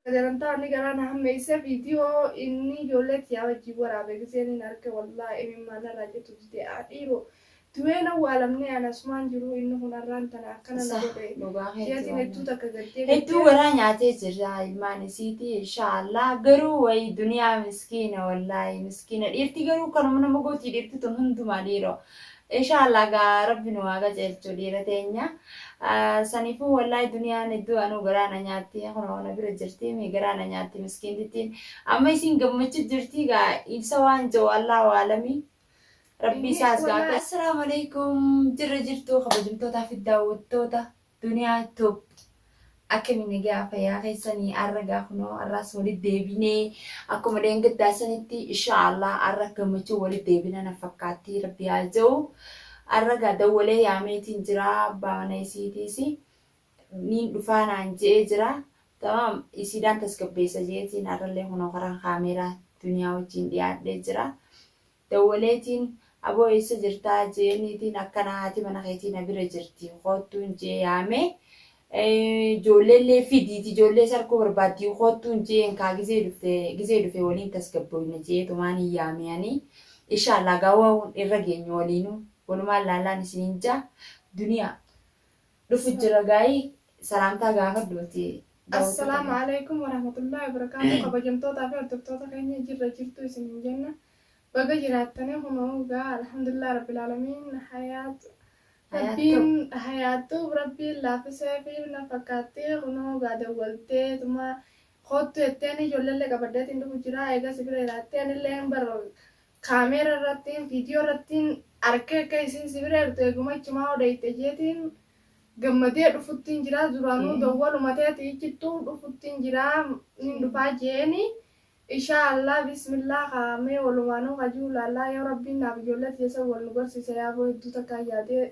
Sagantaa wanni garaa na hammeeyse video inni ijoollee tiyaa wajjiin waraabe giseeniin arke wallaah imimmaan narraa citu dide aa dhiiroo du'ee hin awwaalamnee ani asumaan jiruu inni kun arraan tana akkana na godhe jeetiin hedduu takka gaddee hedduu garaa nyaatee jirra ilmaan isiitii inshaa allaah garuu wayi duniyaa miskiina wallaahii miskiina dhiirti garuu kanuma nama gootii dhiirti tun hundumaa dhiiroo Inshaa Allah gaa rabbi nu haa qajeelchu dhiira teenya saniifuu wallahi duniyaan hedduu anuu garaa na nyaatti kunoo na bira jirti mi garaa na nyaatti miskiintittiin amma isiin gammachu jirti gaa ibsa waan ja'u Allahu aalami rabbi isaas gaa Assalaamu alaikum jirra jirtu kabajamtootaa fi daawwattoota Duniya tube akkami nagaa fayyaa keessani arra gaa kunoo arraas walit deebine akkuma dheengaddaa sanitti insha Allah arra gammachuu walit deebina na fakkaatti rabbi haa ja'u arra gaa dawwalee yaameetiin jira abbaa mana isiitiisi niin dhufaa naan je'ee jira tamaam isiidhaan tasgabbeessa jeetiin arrallee kunoo karaan kaameeraa duniyaa wajjiin dhiyaadhee jira Dawwaleetiin aboo eessa jirtaa jeeniitiin akkana haati mana keetii na bira jirti koottuun jee yaame joolleellee fidiiti joollee is arkuu barbaaddi koottuun jeen kaa gizee dhufte gizee dhufe waliin tasgabbooyna jeetumaan hin yaame ani inshaallaa gaa waan irra geenyu waliinuu walumaan laallaan isiniin jaa duniyaa dhufu jira gaayii salaamtaa gaafadhu ati Assalamu alaikum warahmatullahi wabarakatuh kabajamtoota fi hordoftoota keenya jirra jirtu isin hin jenna baga jiraattanii kunoo gaa alhamdulillah rabbil alamin hayaat rabbiin hayaattuu rabbiin laafisee fi na fakkaatti kunoo gaa dawwaltee tuma koottu jetteen ijoolleellee qabaddeetiin dhufu jira eegas bira jiraattee anillee hin baroo Camera irrattiin video irrattiin arkee akka isiin si bira jirtu eguma achumaa odeyte jeetiin gammadee dhufuttiin jiraa duraanuu dowwaluma teeti ichittuu dhufuttiin jiraa nin dhufaa jeeni ishaa Allah bismillah kaa mee walumaanuu kajuu laallaa yoo rabbiin naaf ijoollee tiyya san wal nu garsiise yaaboo hedduu takkaan yaadee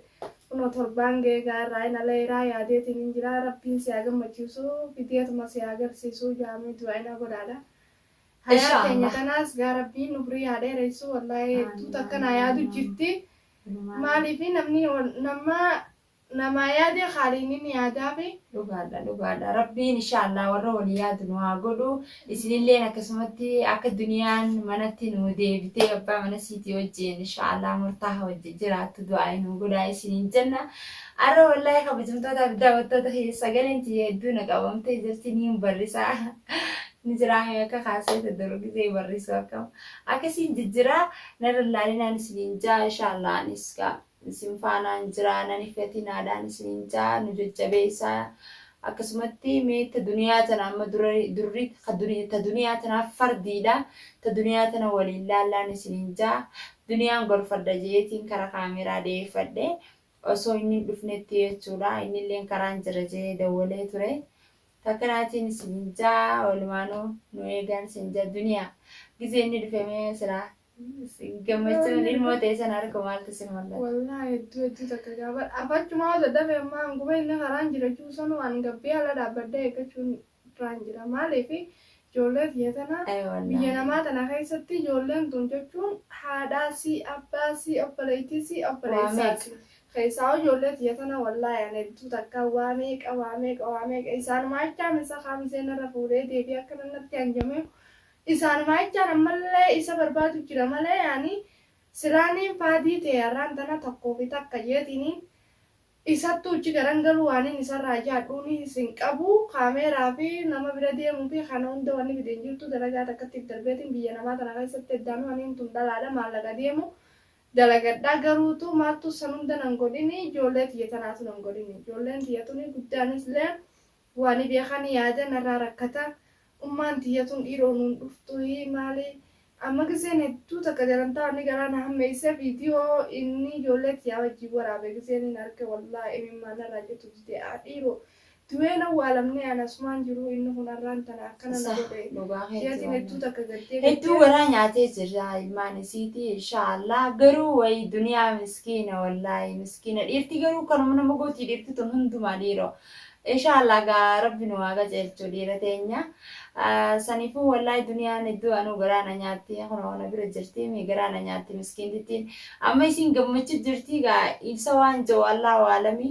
kunoo torbaan ga'ee gaa irraa hin ala iraa yaadeetiin hin jiraa rabbiin si haa gammachiisuu fideetuma si haa garsiisuu jaamee du'aa'ina godhaadha Hayaa Inshaa keenya Allah. tanaas gaa rabbiin umrii haa dheeressu wallahi hedduu takka naa yaadu jirti maaliifi namni ol- nama namaa yaade haaliinin yaadaafi Dhugaadha dhugaadha rabbiin inshaallah warra walii yaadu nu haa godhu isinilleen akkasumatti akka duniyaan manatti nu deebitee abbaa mana siitii wajjin inshaallah murtaaha wajjin jiraattu du'aa nu godhaa isiniin jenna arra wallaahi kabajamtootaa fi daawwattoota kiyya sagaleen tiyya hedduu na qabamtee jirti niin barrisaa ni jiraa mee akka kaasee ta duru gizee barrisuu akkam akka isiin jijjiraa narra laalinaan isiniin jaa inshaallaa anis gaa isin faanaan jiraa nan hifatinaadhaan isiniin jaa nu jajjabeessaa akkasumatti mee ta duniyaa tana amma durri ta duniyaa tanaa fardiidha ta duniyaa tana waliin laallaan isiniin jaa duniyaan gorfadha jeetiin kara kaameraa deeffadhe osoo inni hin dhufnetti jechuudha innilleen karaan jira jee dawwalee ture Takka naatiin siin ja walumaanu nu eegan siin ja duniya gizee inni dhufe mee sila gammachuun ilmoo ta'e sana arku maaltu sin mul'ata. Wallahi hedduu hedduu takka gaafadha afachumaa dadhabe ammaa hanguma inni karaan jira jiru sanu an gabbee ala dhaabbadhee eeggachuun irraan jira maaliif Ijoollee tiyya tana biyya namaa tana keessatti ijoolleen tun jechuun haadhaa sii abbaa sii obboleettii sii obboleessaa sii keessaahuu ijoollee tiyya tana wallaahi an hedduu takkaa waa meeqa waa meeqa waa meeqa isaanuma jechaan isa kaa mizee narra fuudhee deebi'ee akkana natti hanjamee isaanuma jechaan ammallee isa barbaadu jira malee ani silaaniin faadii tee har'aan tana tokkoo fi takka jeetiiniin Isattuu icci garan galuu waanin isarraa yaadhuunis hin qabu. Kaameeraa fi nama bira deemuu fi kana hunda wanni fide hin jirtu. Dalagaa takkattiif darbeetiin biyya namaa tana keessatti heddaanuu aniin tun dhalaadha maallaqa deemu dalagadha. Garuutuu maaltu san hunda nan godhini ijoollee tiyya tanaatu nan godhini. Ijoolleen tiyya tuni guddaanislee. Waani beekani yaada narraa rakkata ummaan tiyya tun dhiiroo nuun dhuftuhi maali amma gizeen hedduu takka jarantaa wanni garaa na hammeeyse video inni ijoollee tiyyaa wajjiin waraabe gizeenin arge wallaah imimmaan narraa citu dide a dhiiroo du'een awwaalamnee an asumaan jiruu inni kun arraan tana akkana na godhe Sah dhugaa keeti jeetin hedduu wallahi. takka gaddee Hedduu gaddee garaa nyaatee jirra ilmaan isiiti inshaa Allah garuu wayi duniyaa miskiina wallahi miskiina dhiirti garuu kanuma nama gooti dhiirti tun hundumaa dhiiroo Inshaa Allah egaa rabbi nu haa qajeelchu dhiira teenya saniifuu wallahi duniyaan hedduu anuu garaa na nyaatti kunoo na bira jirti mi garaa na nyaatti miskiintittiin amma isiin gammachu jirti egaa ibsa waan ja'u Allahu aalami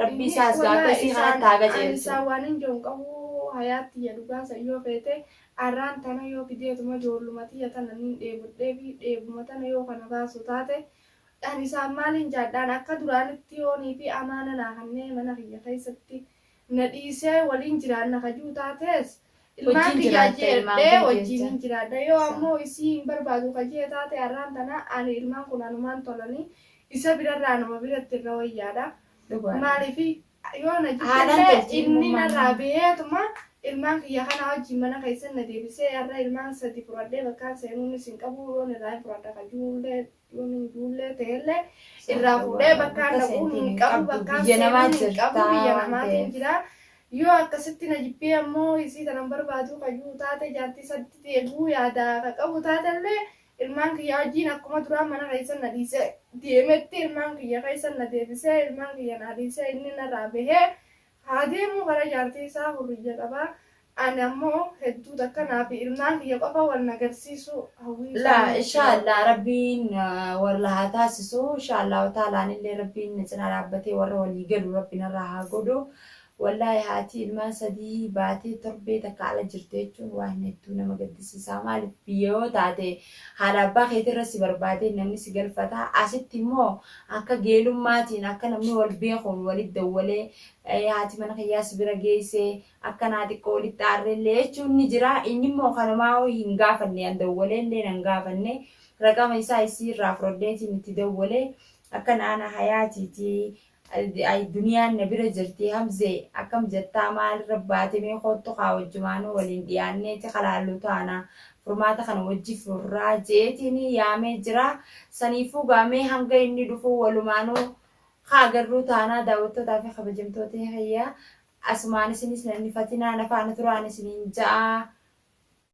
rabbi isaas egaa akka isii kanatti haa qajeelchu. Isaa waan hin ja'u hin qabu hayaat tiyya dhugaa san yoo feete arraan tana yoo gideetuma joolluma tiyya tana nin dheebodheefi dheebuma tana yoo kana baasu taate Ani isaan maaliin jaadhaan akka duraanitti yoo niitii amaana naa kannee mana kiyya keessatti na dhiisee waliin jiraanna ka ji'u taatees ilmaan Wajjiin kiyyaa jiraatta, ilmaan jeedhee kee wajjiinin jeetta. jiraadha yoo Sa. ammoo isii hin barbaadu ka jee taate arraan tana ani ilmaan kun anumaan tolanii isa birarra anuma biratti irra wayyaadha Dhugaadha. maaliifi yoo na Haalaan jibbillee toltii inni ilmumaan. narraa beheetuma ilmaan kiyya kanaa wajjiin mana keessan na deebisee arra ilmaan sadi fudhadhee bakkaan seenuunis hin qabu yoon irraa hin fudhadha ka ji'ullee Duuni duullee ta'ellee irraa fuudhee bakkaan dhaquu hin qabu bakkaan seenuu hin qabu biyya namaatiin jira. Yoo akkasitti na jibbee ammoo isii tanan barbaaduu ka jiru taate jaartii isatti deebi'uu yaada ka qabu taatellee ilmaan kiyya wajjiin akkuma duraa mana keessa na dhiisee deemetti ilmaan kiyya keessa na deebisee ilmaan kiyya naa dhiisee inni narraa bahee Haa deemuu gara jaartii isaa hurriyya qaba ani ammoo hedduu takka naa fi ilmaan kiyya qofa wal na garsiisuu hawwii Laa isaanii itti inshaa yaada. Allah rabbiin warla haa taasisu inshaa Allahu taala anillee rabbiin na cinaa dhaabbatee warra walii galu rabbi narraa haa godhu wallahi haati ilmaan sadii baatee torbee takka ala jirti jechuun waa hin hedduu nama gaddisiisaa maalif biyya yoo taate Haadha abbaa keetii irra si barbaadee namni si galfata. Asitti immoo akka geelummaatiin akka namni wal beekuun walitti dawwalee haati mana kiyyaa si bira geessee akkanaa xiqqoo walitti aarreellee jechuun ni jira. Inni immoo kanumaa ho'i hin gaafanne an dawwaleellee nan gaafanne raqama isaa isii irraa fudhadheetiin itti dawwale akka naana hayaatiiti Ayii duniyaan na bira jirtii hamzee akkam jettaa maal irra baate mee koottu kaa wajjumaanuu waliin dhiyaanneeti ka laallu taana furmaata kana wajji furraa je'eetiin yaamee jira saniifuu gaa mee hanga inni dhufuu walumaanuu ka agarruu taanaa daawwattootaa fi kabajamtoota kiyya asumaan isinis na hin hifatinaa na faana turaan isiniin ja'a